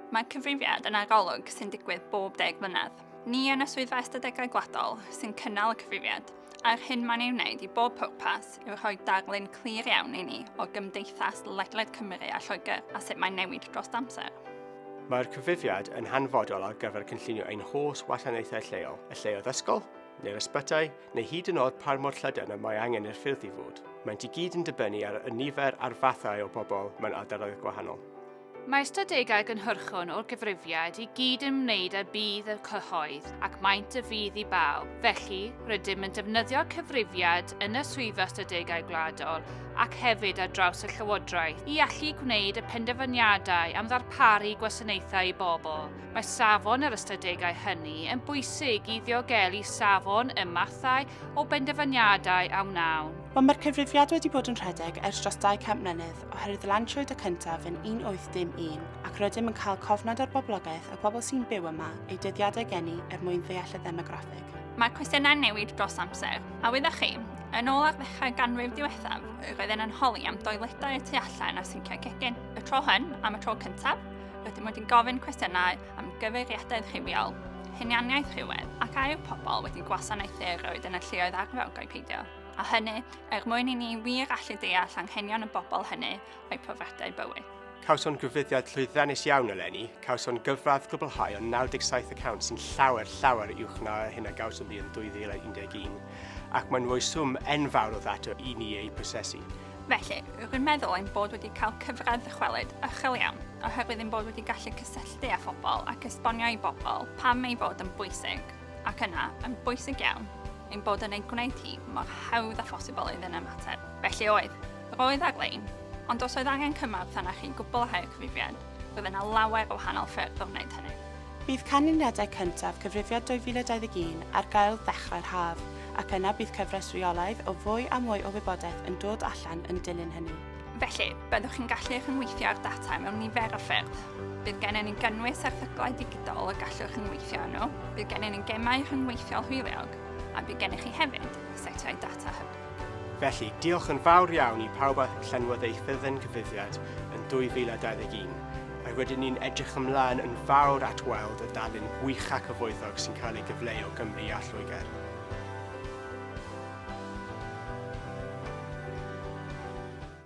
Mae cyfrifiad yn arolwg sy'n digwydd bob deg mlynedd. Ni yn y Swyddfa Ystadegau Gwladol sy'n cynnal y cyfrifiad, a'r hyn mae'n ei wneud i bob pwrpas yw rhoi darlun clir iawn i ni o gymdeithas ledled Cymru a Lloegr a sut mae'n newid dros amser. Mae'r cyfrifiad yn hanfodol ar gyfer cynllunio ein holl wasanaethau lleol, y lleoedd ysgol, neu'r ysbytai, neu hyd yn oed par mor llydan y mae angen i'r ffyrdd i fod. Maent i gyd yn dibynnu ar y nifer a'r fathau o bobl mewn ardaloedd gwahanol. Mae ystadegau gynhyrchon o'r gyfrifiad i gyd yn wneud â budd y cyhoedd ac maent y fudd i bawb. Felly, rydym yn defnyddio cyfrifiad yn y Swyddfa Ystadegau Gwladol ac hefyd ar draws y Llywodraeth i allu gwneud y penderfyniadau am ddarparu gwasanaethau i bobl, Mae safon yr ystadegau hynny yn bwysig i ddiogelu safon y mathau o benderfyniadau a wnawn. Ond mae'r cyfrifiad wedi bod yn rhedeg ers dros 200 mlynedd oherwydd lansiwyd y cyntaf yn 1801 ac rydym yn cael cofnod o'r boblogaeth a pobl sy'n byw yma eu dyddiadau geni er mwyn ddeall y ddemograffig. Mae cwestiynau'n newid dros amser, a wyddoch chi, yn ôl ar ddechrau ganrif diwethaf, roedden yn holi am doiledau y tu allan a synciau cegin. Y tro hyn, am y tro cyntaf, Rydym wedi gofyn cwestiynau am gyfeiriadaeth rhywiol, hunianiaeth rhywedd ac a yw pobl wedi gwasanaethu roed yn y lleoedd arferogau peidio, a hynny er mwyn i ni wir allu deall anghenion y bobl hynny o'i profiadau bywyd. Cawson gyfuddiad llwyddiannus iawn eleni, cawson gyfradd gwblhau o 97 y cant sy'n llawer, llawer uwch na hyn a gawson ni yn 2011, ac mae'n rhoi swm enfawr o ddata i ni eu prosesu. Felly, rwy'n meddwl ein bod wedi cael cyfradd ddychwelyd uchel iawn, oherwydd ein bod wedi gallu cysylltu â phobl ac esbonio i bobl pam ei fod yn bwysig, ac yna, yn bwysig iawn, ein bod yn ei gwneud hi mor hawdd â phosibl iddyn ymateb. Felly oedd, roedd ar-lein, ond os oedd angen cymorth arnoch chi'n gwbl a rhai o'r cyfrifiad, roedd yna lawer o wahanol ffyrdd o wneud hynny. Bydd canlyniadau cyntaf Cyfrifiad 2021 ar gael ddechrau'r haf, ac yna bydd cyfres reolaidd o fwy a mwy o wybodaeth yn dod allan yn dilyn hynny. Felly, byddwch chi'n gallu rhyngweithio â'r data mewn nifer o ffyrdd. Bydd gennym ni gynnwys erthyglau digidol y gallwch rhyngweithio â nhw, bydd gennym ni gemau rhyngweithiol hwyliog, a bydd gennych chi hefyd setiau data hyb. Felly, diolch yn fawr iawn i pawb a llenwodd eu ffurflen gyfrifiad yn 2021, a rydyn ni'n edrych ymlaen yn fawr at weld y darlun gwych a cyfoethog sy'n cael ei gyfleu o Gymru a Lloegr.